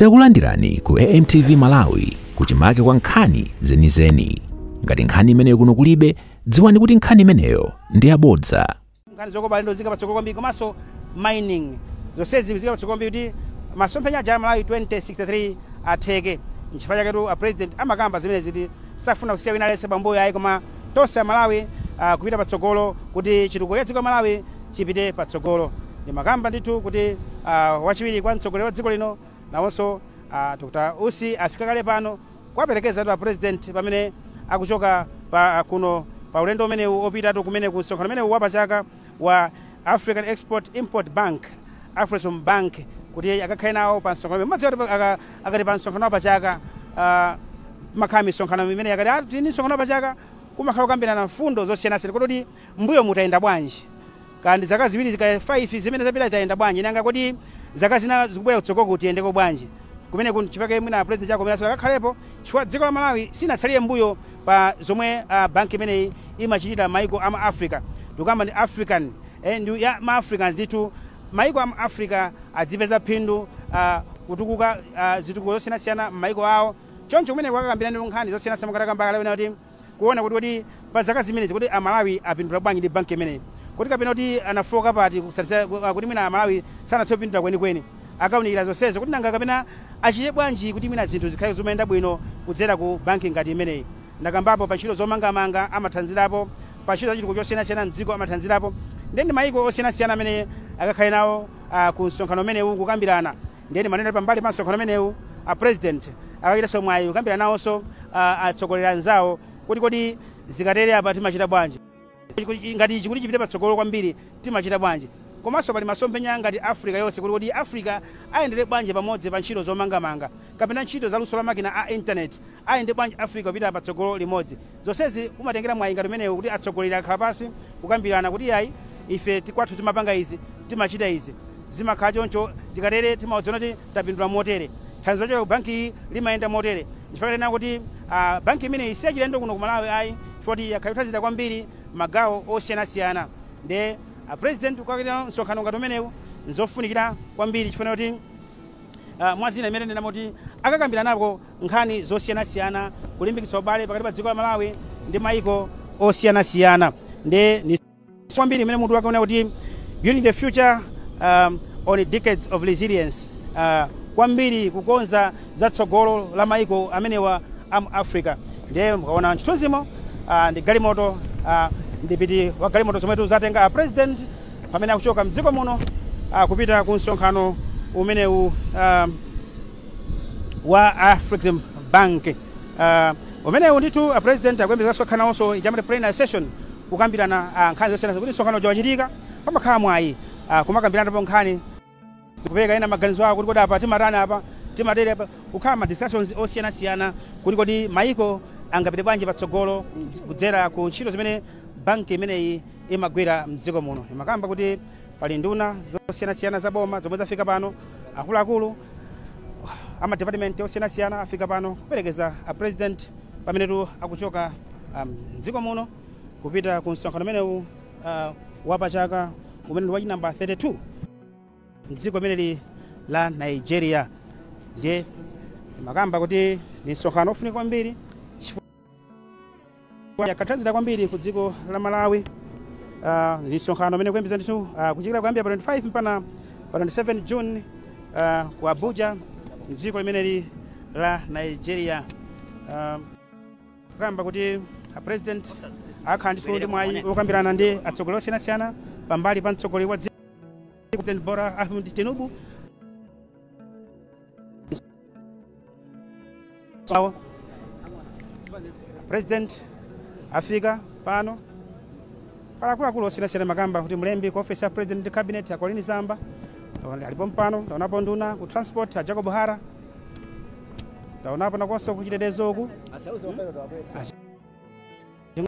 Takulandirani ku AMTV Malawi kuchimake kwa nkhani zenizeni. Ngati nkhani imeneyo kuno kulibe, dziwani kuti nkhani imeneyo ndi yabodza. nkhani zokopa alendo zika patsogolo kwambiri komanso mining zonsezi zika patsogolo kwambiri kuti masomphenya aja a malawi 2063 atheke nchifukwa chaketu a president amakamba zimenezi kuti safuna kusiya wina aliyense pambuyo ayi koma Tonse a Malawi kupita patsogolo kuti chitukuko cha dziko la Malawi chipite patsogolo. Ndimakamba ndithu kuti wachiwiri kwa mtsogoleri wa dziko lino nawonso Dr. Usi afika kale pano kuwaperekezatu a President pamene akuchoka kuno pa ulendo umenewu opitatu kumene ku msonkhano umenewu wa pachaka. wa African Export Import Bank, Afrexim Bank, kuti akakhale nawo pa msonkhano umene mukudziwa kuti aka- akati pa msonkhano wa pachaka ah, kumakhala misonkhano imene akati ah, tili ndi msonkhano wa pachaka kumakhala kukambirana mfundo zosiyanasiyana kodi mbuyomu tayenda bwanji kaya ndi zaka ziwiri zaka 5 zimene zapita tayenda bwanji nanga kodi zaka zina zikubwera kutsogoloku tiyendeko bwanji kumene ku nchifukwa chake mwina president Chakwera nawonso akakhalepo chifukwa dziko la malawi silinatsalire mbuyo pa zomwe bank imeneyi imachitira maiko a mu Africa ndikukamba ndi African eh, ndi ya ma Africans ndithu maiko a mu Africa adzipeza phindu ah, kutukuka ah, zitukuko zosiyanasiyana m'maiko awo choncho kumene kukakambirana ndi nkhani zosiyanasiyana monga takamba kale ena kuti kuona kuti kuti pa zaka zimenezi kuti amalawi apindula bwanji ndi banki imeneyi kuti kapena kuti anafooka pati kusatisa- kuti mwina amalawi sanathe kupindula kwenikweni akaunikira zonsezo kuti nanga kapena achite bwanji kuti mwina zinthu zikhale zomayenda bwino kudzera ku banki ngati imeneyi. Ndakambapo pa ntchito zomangamanga amathandzirapo, pa ntchito za chitukuko chosiyanasiyana mdziko amathandzirapo ndiye ndi maiko osiyanasiyana amene akakhale nawo ku msonkhano umenewu kukambirana ndiye ndimanena kuti pambali pa msonkhano umenewu a President akachitanso mwayi kukambirana nawonso atsogoleri anzawo kuti kodi zikatere apa timachita bwanji. Ngati ichi kuti chipite patsogolo kwambiri timachita bwanji? Komanso pali masomphenya ngati Africa yonse kuti kodi Africa ayendere bwanji pamodzi pa ntchito zomangamanga, kapena ntchito za luso la makina a internet, ayende bwanji Africa kupita patsogolo limodzi. Zonsezi kumatengera mwayi ngati umenewu kuti atsogoleri akhala pansi kukambirana kuti yayi ife kwathu timapanga izi, timachita izi. Zimakhala choncho tikatere timadziona kuti. tapindula motere. Thandizo lochokera ku bankiyi limayenda motere, nchifukwa tanena kuti banki imeneyi siyachilendo kuno ku Malawi ayi chifukwa choti yakhala ikuthandizira kwambiri magawo osiyanasiyana ndiye a President kukakhala msonkhano ngati umenewu nzofunikira kwambiri chifukwa choti mwa zina mmene tanenamo kuti akakambiranako nkhani zosiyanasiyana kulimbikitsa ubale pakati pa dziko la Malawi ndi maiko osiyanasiyana ndiye kwambiri umene mutu wake ukunena kuti building the future um, on decades of resilience uh, kwambiri kukonza za tsogolo la maiko amenewa a mu africa ndiye mukaona chithunzimo uh, ndi galimoto uh, mdipiti wa galimoto zomwe zatenga a president pamene akuchoka mdziko muno uh, kupita ku msonkhano umenewu um, wa Afrexim Bank. Uh, umenewu ndithu a president akuyembekezeka kukhala nawonso ijamati plenary session kukambirana nkhani zosiyanasiyana kuti msonkhano uja wachitika, pamakhala mwayi kumakambiranapo nkhani, kupereka ena maganizo awo kuti kodi apa tingatani apa tingatere, kukhala ma discussions osiyanasiyana kuti kodi mayiko angapite bwanji patsogolo kudzera ku ntchito zimene banki imeneyi imagwira mdziko muno. Imakamba kuti pali nduna zosiyanasiyana za boma zomwe zafika pano, akuluakulu a ma department osiyanasiyana afika pano kuperekeza a president. Pamenetu akuchoka m'dziko um, muno kupita ku msonkhano umenewu uh, wapachaka umene ndi wachi namba 32 mdziko limeneli la Nigeria. Ndiye imakamba kuti ndi msonkhano ofunika kwambiri ukathandizira kwambiri ku dziko la Malawi. Uh, ndi msonkhano umene kuyembeza ndithu uh, kuchitika kuyambira pa 25 mpaka pa 27 June ah, ku Abuja mdziko limeneli la Nigeria ah, kukamba kuti a president akakhala ndithu ndi mwayi wokambirana ndi atsogoleri osiyanasiyana pambali pa mtsogoleri wa dziko President Bola Ahmed Tinubu sawa president afika pano pali akuluakulu osiyanasiyana imakamba kuti mlembi ku ofesi ya president ndi cabinet a Colleen Zamba Taona- alipo pano taonapo nduna ku transport a jacob hara taonapo nawonso kuchitetezo uku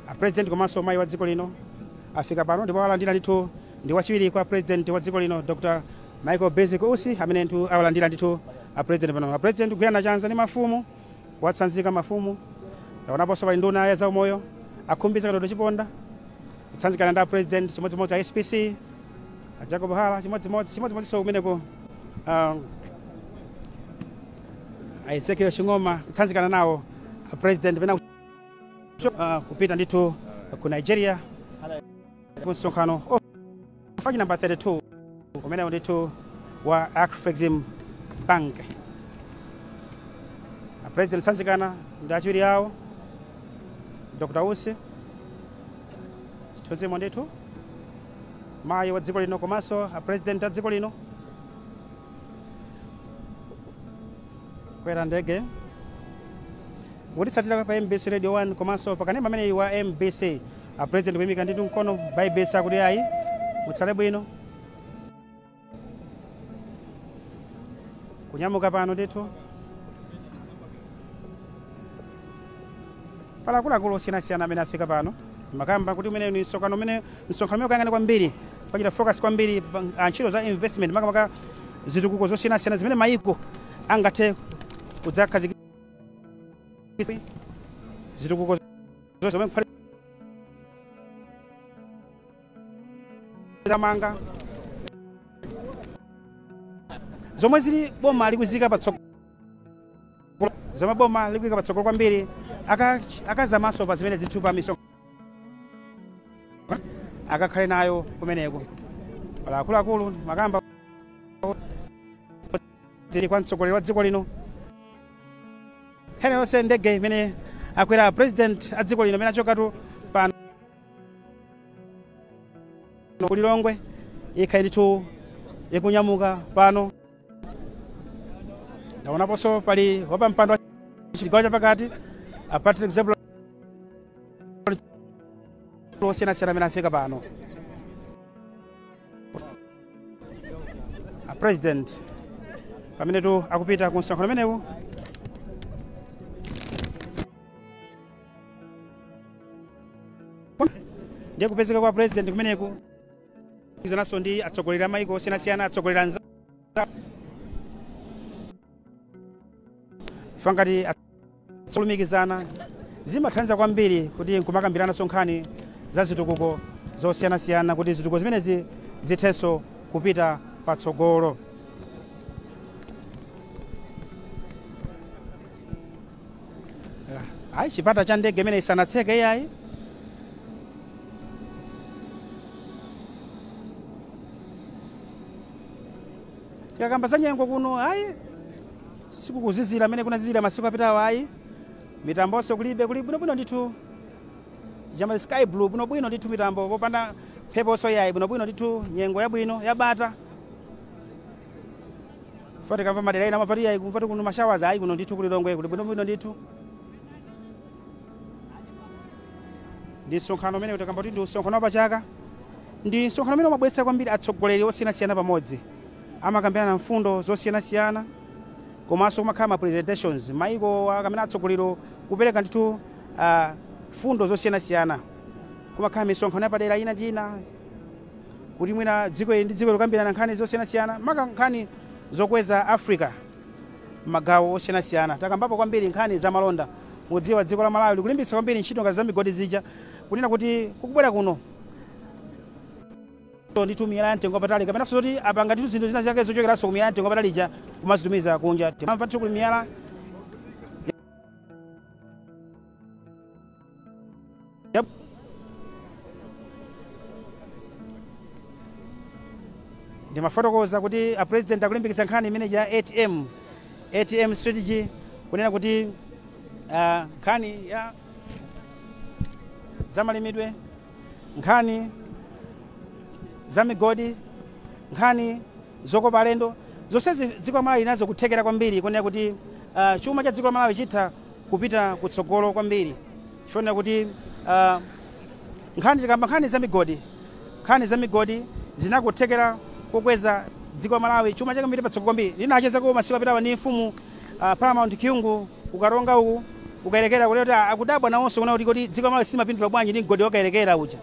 A President komanso mayi wa dziko lino afika pano ndipo awalandira ndithu ndi wachiwiri kwa President wa dziko lino Dr. Michael Bizwick Usi amene ndithu awalandira ndithu a President pano. A President kugwirana chanza ndi mafumu, kuwatsanzika mafumu. Taonaponso pali nduna ya zaumoyo a Khumbize Kandodo Chiponda kutsanzikana ndi a President chimodzimodzi a SPC a Jacob Hara chimodzimodzi chimodzimodzinso kumeneko um, a Ezekiel Ching'oma kutsanzikana nawo a President pena uh, kupita ndithu ku nigeria ku msonkhano oh, wachi namba 32 umenewo ndithu wa afrexim bank apresident kutsanzikana ndi achiwiri awo dr usi mchithunzimo ndithu mayi wa dziko lino komanso apresident a dziko lino Kwera ndege. Wotitsatira pa mbc radio 1 komanso pa kanema ameneyi wa mbc a president kuyimika ndithu mkono kubayibitsa kuti ayi mutsale bwino kunyamuka pano ndithu Pali akuluakulu osiyanasiyana amene afika pano. Ndimakamba kuti umenewu ndi msonkhano umene, msonkhano umene ukayang'ana kwambiri, ukachita focus kwambiri pa ntchito za investment makamaka zitukuko zosiyanasiyana zimene mayiko angathe kudzakhazikitsa, zitukuko zomwe kuphatikizapo zomangamanga zomwe zili boma likuziika patsogolo. zomwe boma likuika patsogolo kwambiri akazamanso pa zimenezitu pa misonkhano akakhale nayo kumeneko pali akuluakulu ndimakamba zili kwa mtsogoleri wa dziko lino Eni yonse ndege imene akwera president a dziko lino pamene achokatu pano ku Lilongwe ikhale ndithu ikunyamuka pano ndaonaponso pali wapampando wa chigawo chapakati a Patrick Zebron osiyanasiyana amene afika pano a president pamenetu akupita ku msonkhano umenewu ndiye kupezeka kwa a president kumeneku izanso ndi atsogoleri a maiko osiyanasiyana atsogoleri anzawo ife ngati kulumikizana zimathandiza kwambiri kuti nkumakambirananso nkhani za zitukuko zosiyanasiyana kuti zitukuko zimenezi zithenso kupita patsogolo ayi chipata cha ndege imeneyi sanatseke iyayi tikakamba za nyengo kuno ayi sikukuzizira mmene kunazizira masiku apitawo ayi mitambonso kulibe kuli bwinobwino ndithu ija amati sky blue bwinobwino ndithu mitambo popanda mpheponso iyayi bwinobwino ndithu nyengo yabwino yabata Poti tikamva madera ena mwapati ayi kumva kuti kuno ma showers ayi kuno ndithu ku Lilongwe kuli bwinobwino ndithu. Ndi msonkhano umene timakamba kuti ndi msonkhano wa pachaka ndi msonkhano umene umabweretsa kwambiri atsogoleri osiyanasiyana pamodzi amakambirana mfundo zosiyanasiyana komanso kumakhala ma presentations maiko akamenewa atsogoleri kupereka ndithu ah, mfundo zosiyanasiyana kumakhala misonkhano yapadera ina ndi ina kuti mwina dziko ili ndi dziko ili kukambirana nkhani zosiyanasiyana maka nkhani zokweza africa m'magawo osiyanasiyana takambapo kwambiri nkhani za malonda mudziwa dziko la malawi likulimbikitsa kwambiri ntchito ngati za migodi zija kunena kuti kukubwera kuno ndithu miyala ya mtengo wapatali kapenanso zoti apanga ndithu zinthu zina zake zochokeranso ku miyala ya mtengo wapatali ija kumazitumiza kunja timamva ndithu kuli miyala ndimafotokoza kuti a president akulimbikitsa nkhani imene ija ya atm atm strategy kunena kuti uh, nkhani ya zamalimidwe nkhani za migodi nkhani zokopa alendo zonsezi dziko la malawi lili nazo kuthekera kwambiri kunena kuti uh, chuma cha dziko la malawi chitha kupita kutsogolo kwambiri chifukwa kuti tikakamba nkhani za migodi nkhani za migodi zili ndi kuthekera kokweza dziko la Malawi chuma chake kupita patsogolo kwambiri ndinachezako masiku apitawa ni mfumu uh, Paramount Kyungu ku Karonga uku ku Kayelekera kule kuti akudabwa nawonso kunena kuti kodi dziko la Malawi silimapindula bwanji ndi mgodi wa Kayelekera uja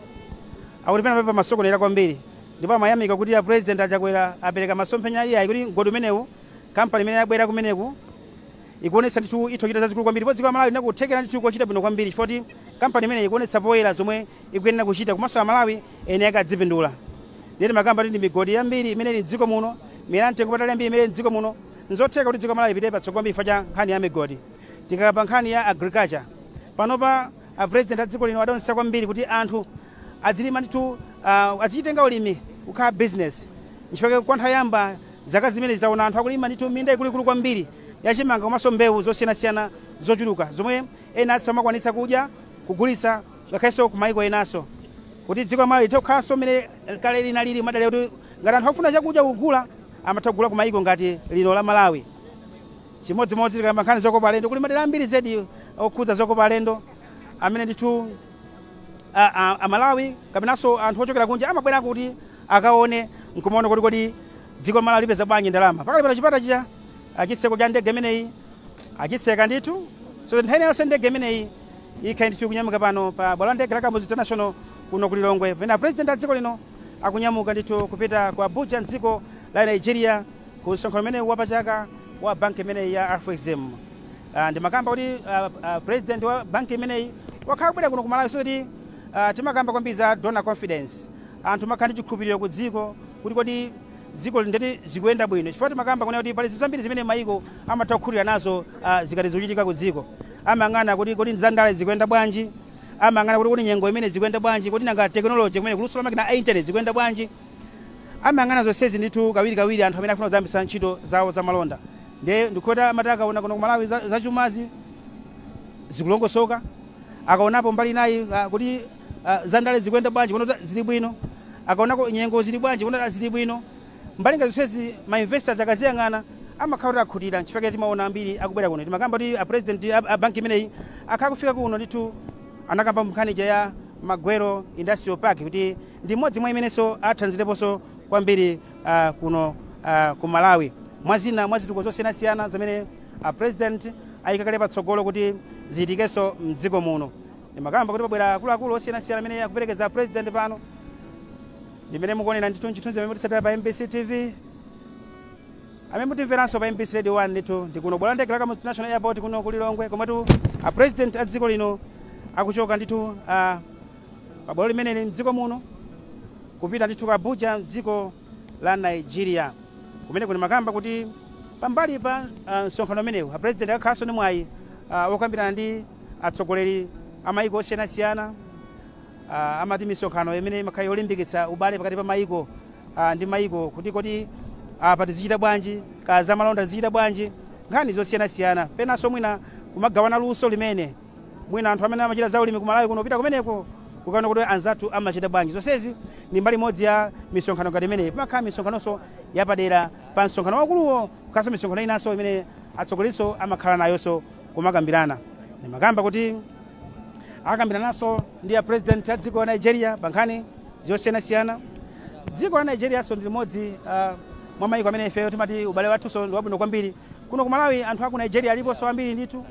akuti pena pake pamasokonekera kwambiri ndipo amayamika kuti a president a Chakwera apereka masomphenya iyayi kuti mgodi umenewu kampani imene yabwera kumeneku ikuonetsa ndithu itha kuchita zazikulu kwambiri ndipo dziko la Malawi lili ndi kuthekera ndithu kochita bwino kwambiri chifukwa kuti kampani imeneyi ikuonetsa poyera zomwe ikuyenera kuchita komanso Amalawi eni ake adzipindula. Ndiye tikamakamba kuti ndi migodi yambiri imene ili m'dziko muno, miyala yamtengo wapatali yambiri imene ili m'dziko muno, n'zotheka kuti dziko la Malawi lipite patsogolo kwambiri chifukwa cha nkhani ya migodi. Tikakamba nkhani ya agriculture, panopa a President a dziko lino adaonetsetsa kwambiri kuti anthu adzilima ndithu, ah, adzichitenga ulimi kukhala business. N'chifukwa chake kwa nthawi yoyamba Zaka zimenezi taona anthu akulima ndithu minda ikuluikulu kwambiri ya chimanga komanso mbewu zosiyanasiyana zochuluka zomwe ena azimakwanitsa kudya, kugulitsa ngakhalenso kumayiko enanso. Kuti dziko la Malawi lithe kukhalanso mmene kale linalili kumadalira kuti ngati anthu akufuna chakudya kugula amatha kugula kumayiko ngati lino la Malawi. Chimodzimodzi tikakamba nkhani zokopa alendo, kuli madera ambiri zedi okhudza zokopa alendo amene ndithu. Amalawi kapenanso anthu ochokera kunja amabwerako kuti akaone n'kumaona kuti kodi dziko la Malawi lipeza bwanji ndalama. Pakali pano chipata chija, chitseko cha ndege imeneyi achitseka ndithu, so that nthawi ina yonse ndege imeneyi ikhala ndithu ikunyamuka pano pa bwalo la ndege la Kamuzu International kuno ku Lilongwe, pamene a President a dziko lino akunyamuka ndithu kupita ku Abuja m'dziko la Nigeria ku msonkhano umenewu wapachaka wa banki imeneyi ya Afrexim. Ah, ndimakamba kuti ah, ah, president wa banki imeneyi wakhala kubwera kuno ku malawi so kuti ah, timakamba kwambiri za donor confidence anthu amakhala ndi chikhulupiriro ku dziko kuti kodi dziko ili ndeti zikuyenda bwino chifukwa timakamba kunena kuti pali zinthu zambiri zimene mayiko amatha kukhutira nazo ah, zikati zikuchitika ku dziko amayang'ana kuti kodi za ndale zikuyenda bwanji amayang'ana kuti kodi nyengo imene zikuyenda bwanji kodi nanga tekinoloji kumene kuluso la makina a internet zikuyenda bwanji amayang'ana zonsezi ndithu kawirikawiri anthu amene afuna kudzayambitsa ntchito zawo za malonda Nde ndikuti amati akaona kuti kuno ku Malawi za zachumazi zikulongosoka, akaonapo mbali inayo ah, kuti ah, za ndale zikuyenda bwanji kuona kuti zili bwino, akaonako nyengo zili bwanji kuona kuti ah, zili bwino. Mbali ngati zonsezi ma investors akaziyang'ana amakhala kuti akhutira. N'chifukwa chake timaona ambiri akubwera kuno. Timakamba kuti a president a, a banki imeneyi akhala akufika kuno ndithu anakamba nkhani ija ya Magwero Industrial Park kuti ndi imodzi mwa imenenso athandizireponso kwambiri kuno ku Malawi. Mwazina mwa zitukuko zosiyanasiyana zimene a President ayika kale patsogolo kuti zichitikeso mdziko muno, ndimakamba kuti pabwera akuluakulu osiyanasiyana amene akuperekeza a President pano, ndimene mukuonera ndithu mchithunzi amene mutitsatira pa mbc tv. Amene mutimveranso pa mbc radio 1 ndithu ndi kuno bwalo la ndege la Kamuzu International Airport kuno ku Lilongwe komwetu a President a dziko lino akuchoka ndithu. pa bwalo limeneli m'dziko muno kupita ndithu ku Abuja m'dziko la Nigeria. Kumeneko ndimakamba kuti pambali pa ah, msonkhano umenewu apulezidenti akakhalanso ndi mwayi ah, wokambirana ndi atsogoleri a mayiko osiyanasiyana Ah, amati misonkhano imeneyi imakhala yolimbikitsa ubale pakati pa mayiko ah, ndi mayiko kuti kodi apa tizichita bwanji kaya zamalonda tizichita bwanji nkhani zosiyanasiyana penanso mwina kumagawana luso limene Mwina anthu amene amachita za ulimi ku Malawi kuno kupita kumeneko kukaona kuti anzathu amachita bwanji. Zonsezi ndi mbali imodzi ya misonkhano ngati imeneyi. Pamakhala misonkhanonso yapadera pa msonkhano waukuluwo, kukhalanso misonkhano inanso imene atsogolerinso amakhala nayonso kumakambirana. Ndimakamba kuti akakambirananso ndi a president a dziko la Nigeria pa nkhani zosiyanasiyana. Dziko la Nigerianso ndi limodzi ah, mwa mayiko amene ifeyo timati ubale wathunso ndi wabwino kwambiri. Kuno ku Malawi anthu a ku Nigeria aliponso ambiri ndithu.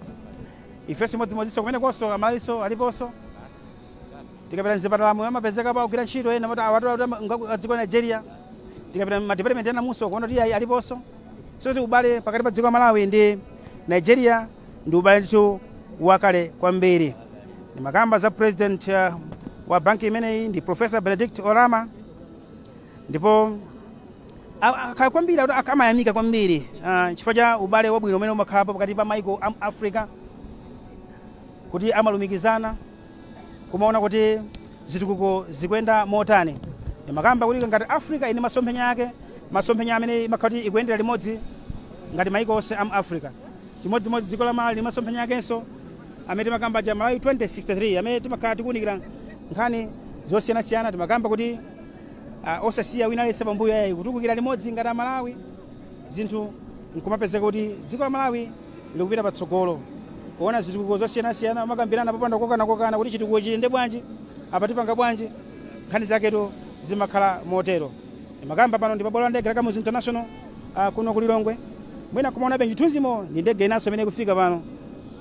Ifeso chimodzimodziso kumenekoso amalawiso aliposo tikapita mzipatalamu amapezekapo akugwira ntchito ena moti awatu awatu nga a dziko la Nigeria tikapita mma department enamuso kuona kuti ayi aliposo so kuti ubale pakati pa dziko la Malawi ndi Nigeria ndi ubale ndithu wakale kwambiri ndimakamba za president uh, wa banki imeneyi ndi Professor Benedict Oramah ndipo akhala kwambiri akuti ak- amayamika kwambiri ah, chifukwa cha ubale wabwino umene umakhalapo pakati pa maiko a mu africa kuti amalumikizana kumaona kuti zitukuko zikuyenda motani timakamba kuti ngati africa ili ndi masomphenya ake masomphenya amene imakhala kuti ikuyendera limodzi ngati maiko onse a mu africa chimodzimodzi dziko la malawi lili ndi masomphenya akenso amene timakamba aja malawi 2063 amene timakhala tikuunikira nkhani zosiyanasiyana timakamba kuti uh, osasiya wina aliyense pambuyo yayi kutukukira limodzi ngati amalawi zinthu nkumapezeka kuti dziko la malawi likupita patsogolo kuona zitukuko zosiyanasiyana kumakambirana popanda kokana kokana kuti chitukuko chiyende bwanji apa tipanga bwanji nkhani zaketu zimakhala motero ndimakamba pano ndi pabwalo la ndege la kamuzu international uh, kuno ku lilongwe mwina mukumaonabe chithunzimo ndi ndege inanso imene ikufika pano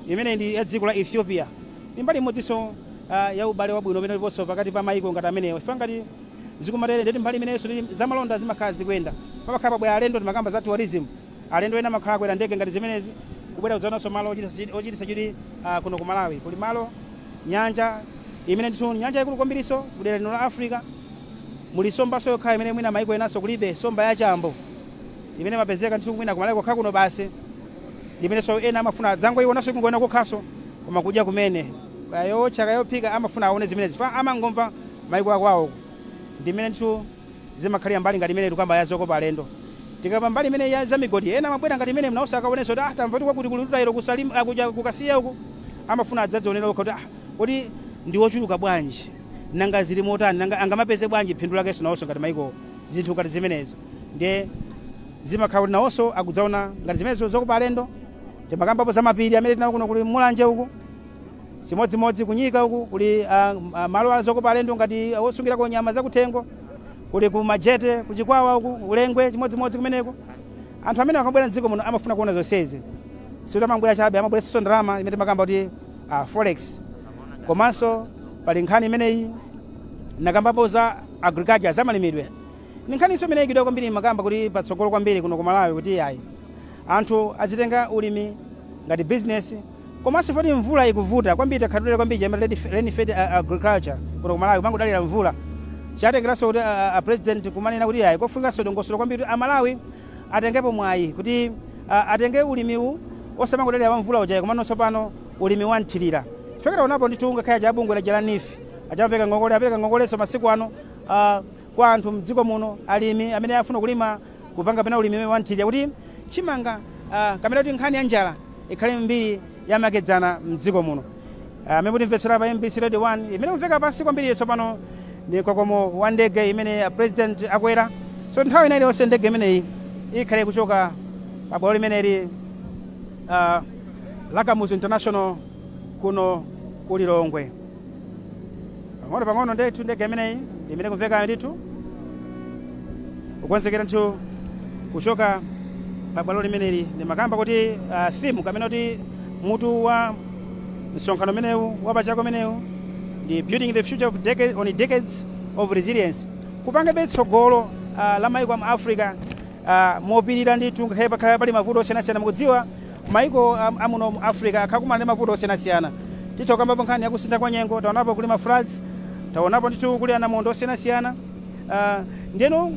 imene ndi ya dziko la ethiopia Ndi mbali imodzinso ya ubale wabwino umene uliponso pakati pa mayiko ngati amenewa ife ngati zikumatere ndiye kuti mbali imeneyinso zamalonda zimakhala zikuyenda. Pamakhala pabwera alendo, timakamba za tourism, alendo ena amakhala akwera ndege ngati zimenezi kubwera kudzaonanso malo ochititsa chidwi kuno ku Malawi. Kuli malo, nyanja imene ndithu ndi nyanja yaikulu kwambirinso mudera lino la Africa. Muli nsombanso yokhayo imene mwina mayiko enanso kulibe, nsomba ya chambo imene imapezeka ndithu mwina ku Malawi kokha kuno basi, imenenso ena amafuna adzangoionanso, kungoiona kokhanso. koma kudya kumene kaya yowotcha kaya yophika amafuna awone zimenezi chifukwa amangomva maiko akwawo uko ndimene ndithu zimakhalira mbali ngati imeneyi tikukamba ya zokopa alendo. Tikakamba mbali imeneyi ya za migodi ena amabwera ngati imeneyi nawonso akaonenso kuti ah tamva kuti kwakuti kuli rutile ku Salima ah kuja ku Kasiya uku amafuna adzadzionere okha kuti ah kodi ndi ochuluka bwanji nanga zili motani nanga angamapeze bwanji phindu lakenso nawonso ngati maikowo zinthu ngati zimenezo ndiye Zimakhala kuti nawonso akudzaona ngati zimenezo zokopa alendo. Timakambapo za mapiri amene tili nawo kuno kuli Mulanje uku. Chimodzimodzi ku Nyika uku kuli a, a malo a zokopa alendo ngati osungirako nyama zakuthengo. Kuli ku Majete, ku Chikwawa uku, ku Lengwe chimodzimodzi kumeneko. Anthu amene akabwera m'dziko muno amafuna kuona zonsezi. Sikuti amangobwera chabe, amabweretsanso ndalama imene timakamba kuti a, forex. Komanso pali nkhani imeneyi, ndinakambapo za agriculture, zamalimidwe. Ndi nkhaninso imene yaikidwa kwambiri imakamba kuti patsogolo kwambiri kuno ku Malawi kuti iyayi anthu adzitenga ulimi ngati business komanso poti mvula ikuvuta kwambiri takhala tikudalira kwambiri chimene amati rain fed agriculture kuno ku Malawi kumangodalira mvula chatengeranso kuti a president kumanena kuti iyayi kofunikanso dongosolo kwambiri kuti a Malawi atengepo mwayi kuti atenge ulimiwu osamangodalira wa mvula uja komano tsopano ulimi wa mthirira chifukwa taonapo ndithu ngakhale aja a bungwe laja la NEEF aja amapereka ngongole apereka ngongolenso masiku ano a kwa anthu mdziko muno alimi amene afuna kulima kupanga pena ulimi umene wamthirira kuti chimanga ah, kapena kuti nkhani ya njala ikhale mbiri yamakedzana mdziko muno Ah, amene mutimvetsera pa mbc radio 1 imene ikumveka pansi kwambiri tsopano ni mkokomo wa ndege imene a president akwera so nthawi ina iliyonse ndege imeneyi ikhale kuchoka pa bwalo limeneli ah, la kamuzu international kuno ku lilongwe Pang'ono pang'ono ndithu ndege imeneyi imene ikumvekayo ndithu kukonzekera ndithu kuchoka pa bwalo limeneli ndimakamba kuti uh, theme kapena kuti mutu wa msonkhano umenewu wapachaka umenewu ndi building the future on decades, on decades of resilience kupangabe tsogolo uh, la maiko a mu africa mopirira ndithu ngakhale pakhala pali mavuto osiyanasiyana mukudziwa maiko amuno mu africa akhala akumana ndi mavuto osiyanasiyana titha kukambapo nkhani ya kusintha kwa nyengo taonapo kuli ma floods taonapo ndithu kuli anamondwe osiyanasiyana ndeno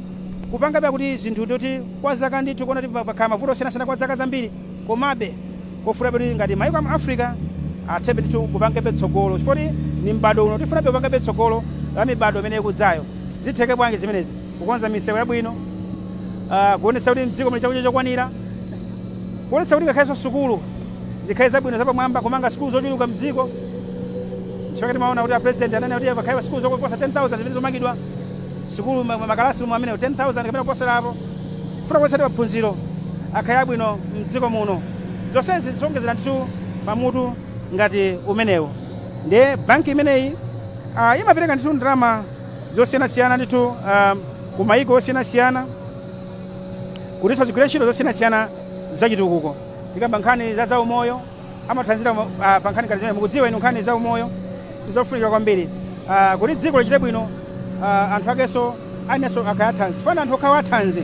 kupangabe kuti zinthu ndoti kwa zaka ndithu kuona kuti pakhala mavuto osiyanasiyana kwa zaka zambiri komabe kofuna kuti ngati maiko amu africa athebe ndithu kupangabe tsogolo chifukwa kuti ni m'bado uno tifunabe kupangabe tsogolo la mibado imene ikudzayo zitheke bwanji zimenezi Kukonza misewu yabwino, kuonetsa kuti m'dziko muli chakudya chokwanira, kuonetsa kuti ngakhalenso sukulu zikhale zabwino, zapamwamba, kumanga sukulu zochuluka m'dziko. N'chifukwa chake timaona kuti apulezidenti ananena kuti pakhale sukulu zoposa 10,000 zimene zomangidwa, sukulu, makalasirumu amenewo 10,000 kapena kuposera apo, kufuna kuonetsa kuti maphunziro akhale abwino m'dziko muno. Zonsezi zikuwongezera ndithu pa mutu ngati umenewu. Ndiye banki imeneyi imapereka ndithu ndalama. zosiyanasiyana ndithu um, ku mayiko osiyanasiyana kutinso zigwire ntchito zosiyanasiyana zachitukuko tikamba nkhani za zaumoyo amathanzira uh, pa nkhani ngati zimene mukudziwa inu nkhani zaumoyo ndizofunika kwambiri uh, kuti dziko lichite bwino uh, anthu akenso ayenenso akhale athanzi fana anthu okhawo athanzi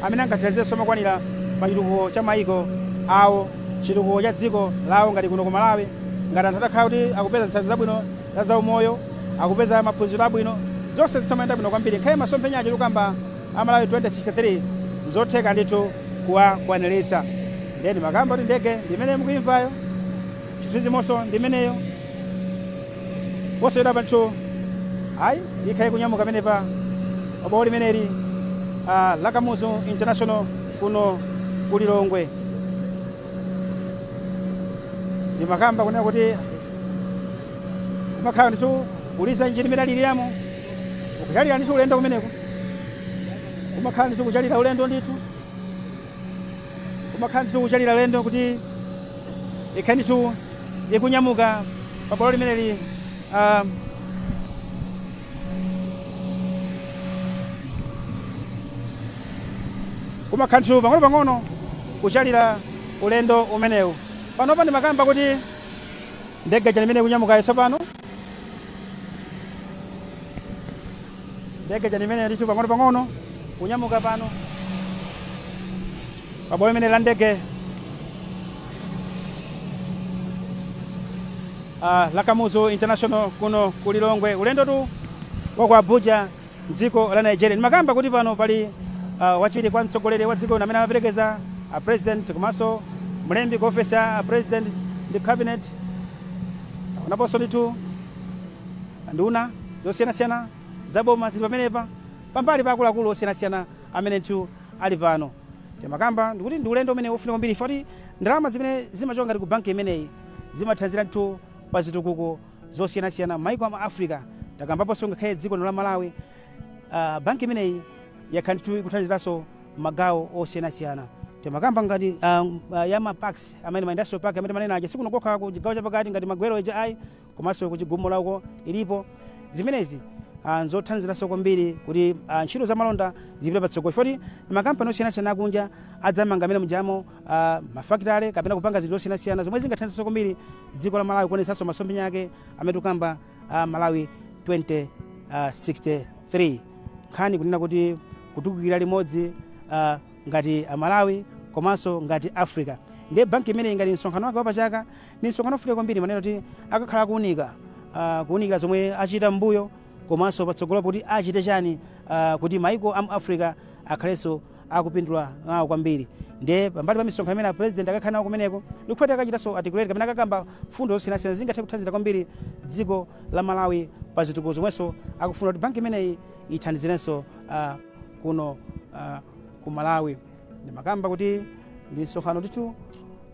amene angathanzirenso mokwanira pa chitukuko cha mayiko awo chitukuko cha dziko lawo ngati kuno ku malawi ngati anthu atakhala kuti akupeza zithandizo zabwino za zaumoyo, akupeza maphunziro abwino, zonse zitha kumayenda bwino kwambiri. Ngakhale masomphenya aja tikamba a Malawi 2063 nzotheka ndithu kuwakwaniritsa. Ndiye ndimakamba kuti ndege ndi imeneyo mukuimvayo, chithunzimonso ndi imeneyo. Posachedwapa ndithu ayi ikhale ikunyamuka pamenepa pa bwalo limeneli ah, la Kamuzu International kuno ku Lilongwe. ndimakamba kunena kuti kumakhala ndithu kuliza injini imene ikulirayo kuchalira ndithu ulendo kumeneko kumakhala ndithu kuchalira ulendo ndithu kumakhala ndithu kuchalira ulendo kuti ikhale ndithu ikunyamuka pa bwalo limeneli ah, Kumakhala ndithu pang'onopang'ono kuchalila ulendo umenewu. Panopa ndimakamba kuti ndege ija nimene ikunyamukayi tsopano. Ndege ija nimene ndithu pang'onopang'ono kunyamuka pano pa bwalo limene la ndege. uh, la Kamuzu International kuno ku Lilongwe. Ulendotu wa ku Abuja mdziko la Nigeria. Ndimakamba kuti pano pali uh, wachiwiri kwa mtsogoleri wa dziko lino amene amaperekeza a president komanso mlembi ku ofesi ya a president ndi cabinet waonaponso ndithu nduna zosiyanasiyana zaboma zili pamenepa pambali pa akuluakulu osiyanasiyana amene ndithu ali pano timakamba ndikuti ndi ulendo umene ofunika kwambiri foti ndalama zimene zimachoka ngati ku banki imeneyi zimathandizira ndithu pa zitukuko zosiyanasiyana mmaiko a mu Africa takambaponso ngakhale dziko lino la Malawi uh, banki imeneyi yakhala ndithu ikuthandiziranso mmagawo osiyanasiyana timakamba ngati uh, uh, ya ma parks amene ma industrial park amene timanena aja sikuno kokha ku chigawo chapakati ngati magwero eja ayi komanso kuchigumula uko ilipo zimenezi ah, nzothandiziranso kwambiri kuti ah, ntchito za malonda zipite patsogolo foti makampani osiyanasiyana akunja adzamanga amene mujamo ah, mafakitale kapena kupanga zinthu zosiyanasiyana zomwe zingathandizirenso kwambiri dziko la malawi kuonetsanso masomphenya ake amene tikukamba ah, malawi 2063 nkhani kunena kuti kutukukira limodzi ah, ngati malawi komanso ngati africa ndiye banki imeneyi ngati msonkhano wake wapachaka Ndi msonkhano wofunika kwambiri timanena kuti akakhala akuunika ah, kuunikira zomwe achita m'mbuyo komanso patsogolo kuti achite chani ah, kuti maiko a mu africa akhalenso akupindula nawo kwambiri ndiye pambali pa misonkhano imene apresident akakhala nawo kumeneko ndikuti akachitanso articulate kapena akakamba mfundo zosiyanasiyana zingathe kuthandizira kwambiri dziko la malawi pa zitukuko zomwenso akufuna kuti banki imeneyi ithandizirenso ah, kuno ah, ku malawi ndimakamba kuti ndi msonkhano ndithu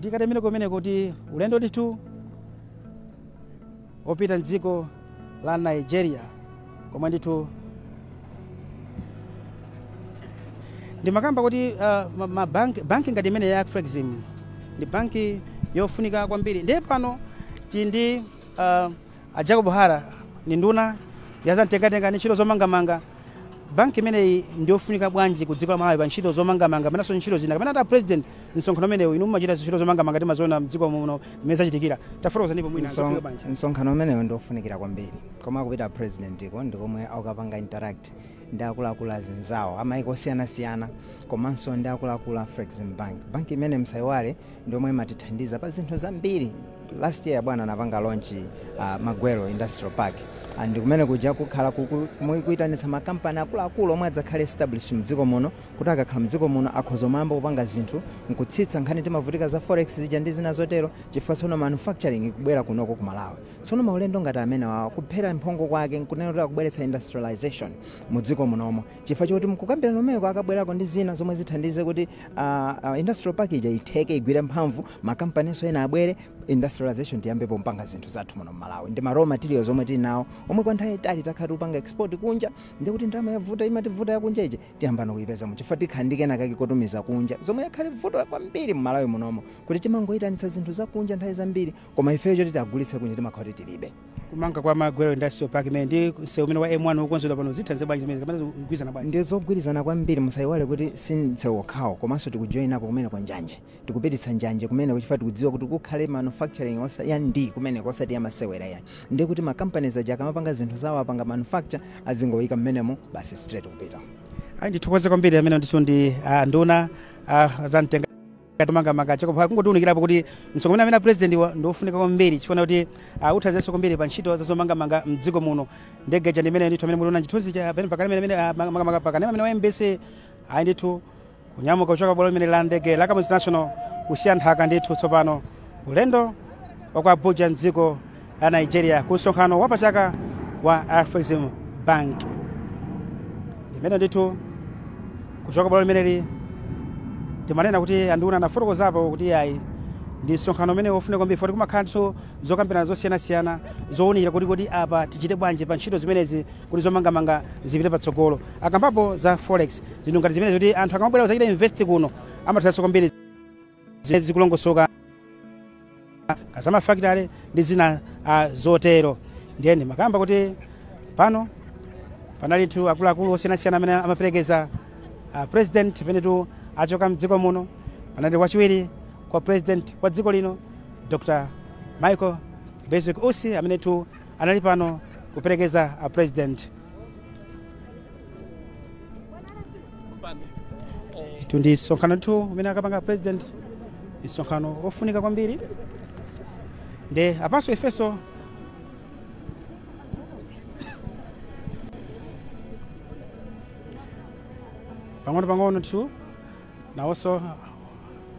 tikatemere kumene kuti ulendo ndithu opita mdziko la nigeria komwe ndithu ndimakamba kuti uh, ma- ma bank- banki ngati imeneyi ya Afrexim ndi banki yofunika kwambiri ndiye pano tili ndi uh, A Jacob Hara ndi nduna ya zamtengatenga ndi ntchito zomangamanga, banki imeneyi ndi yofunika bwanji ku dziko la Malawi pa ntchito zomangamanga kapenanso ntchito zina? Kapena kuti a President msonkhano umenewu inu mumachita ntchito zomangamanga timaziona m'dziko muno m'mene zachitikira, tafotokozanipo mwina Mson- zofunika bwanji? msonkhano umenewu ndi ofunikira kwambiri komwe akupita president ko ndi komwe akukapanga interact ndi akuluakulu azinzawo amaiko osiyanasiyana komanso ndi akuluakulu a Afrexim Bank banki imene msayiwale ndiomwe imatithandiza pa zinthu zambiri last year bwana anapanga launch uh, magwero industrial park and kumene kuja kukhala kuku- mu- kuitanitsa makampani akuluakulu omwe adzakhale established mdziko muno kuti akakhala mdziko muno akhoza kumayamba kupanga zinthu nkutsitsa nkhani timavutika za forex zija ndi zina zotero chifukwa tsono manufacturing ikubwera kunoko ku malawi tsono maulendo ngati amenewa kuphera mphongo kwake nkunena kuti akubweretsa industrialization mu dziko munomo chifukwa choti mkukambirana umeko akabwerako ndi zina zomwe zithandize kuti uh, uh, industrial park ija itheke igwire mphamvu makampaninso ena abwere industrialization tiyambepo kumapanga zinthu zathu muno mmalawi ndi ma raw materials omwe tili nawo omwe kwa nthawi yayitali takhala tikupanga export kunja ndikuti ndalama yavuta imativuta yakunja ije tiyambano kuyipeza chifukwa tikhala ndi kena kake kotumiza kunja zomwe yakhala vuto kwambiri mmalawi munomo kuti timangoyitanitsa zinthu zakunja nthawi zambiri koma ifeyo choti tikagulitse kunja timakhala kuti tilibe kumanga kwa magwero industrial park imene ndi msewu umene wa m1 wokonzedwa pano zithandiza bwanji zimenezi kapena zikugwirizana bwanji ndi zogwirizana kwambiri musayiwale kuti si msewu wokhawo komanso tikujoyinako kumeneko njanje tikupititsa njanje kumeneko chifukwa tikudziwa kuti kukhale manufacturing yaa ndi kumeneko osati yamasewera ayi ndi kuti makampaniz aja akamapanga zinthu zawo apanga manufacture azingoyika mmenemo basi straight kupita ayi ndithokoze kwambiri amene ndithu ndi ah, nduna ah, za mtenga mangamanga Jacob Hara kungotiunikirapo kuti msonkhano umene amene a president wu ndi wofunika kwambiri chifukwa kuti uh, uthandizenso kwambiri pa ntchito za zomangamanga mdziko muno ndege ija ndimene ndithu amene muliona chithunzi chake pamene pakanema amene amene, ah, maka- makamaka pakanema amene wa mbc ayi ndithu kunyamuka kuchoka bwalo limene la ndege la Kamuzu International kusiya nthaka ndithu tsopano ulendo wa ku Abuja mdziko la nigeria ku msonkhano wapachaka wa afrexim bank ndimene ndithu kuchoka bwalo limeneli timanena kuti anduna anafotokozapo kuti ayi ndi msonkhano umene wofunika kwambiri poti kumakhalanso zokambirana zosiyanasiyana zowunikira kuti kodi apa tichite bwanji pa ntchito zimenezi kuti zomangamanga zipite patsogolo akambapo za forex zinthu ngati zimenezi kuti anthu akamabwera kudzachita invest kuno amathandizanso kwambiri zimene zikulongosoka ka za mafakitale ndi zina ah, zotero ndiye ndimakamba kuti pano panalitu akuluakulu osiyanasiyana amene amaperekeza ah, president penetu achoka mdziko muno panali wachiwiri kwa president wa dziko lino dr michael bizwick usi amenetu anali pano kuperekeza ah, president itu ndi msonkhano tu umene akapanga a president msonkhano wofunika kwambiri nde apanso ifenso pang'ono pang'ono tu nawonso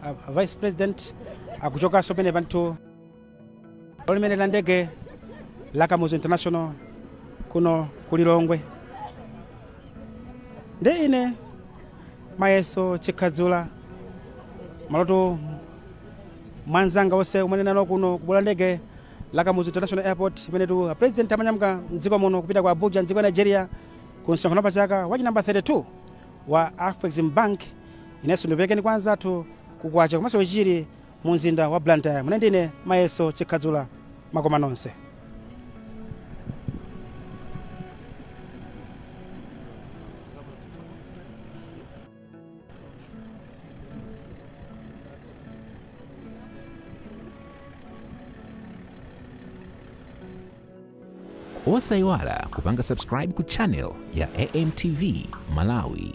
a- a vice president akuchokanso pamene panotu la ndege la kamuzu international kuno ku lilongwe ndi ine mayeso chikhadzula maloto mwanzanga onse amene nawo kuno ku bwalo la ndege la kamuzu international airport imenetu a president amanyamuka mdziko muno kupita ku abuja mdziko ya nigeria ku msonkhano wa pachaka wa chinamba 32 wa afrexim bank inenso ndiperekeni kwa anzathu kukwacha komanso chichiri mu mzinda wa Blantyre ine ndine Mayeso Chikhadzula makoma nonse. osayiwala kupanga subscribe ku channel ya amtv malawi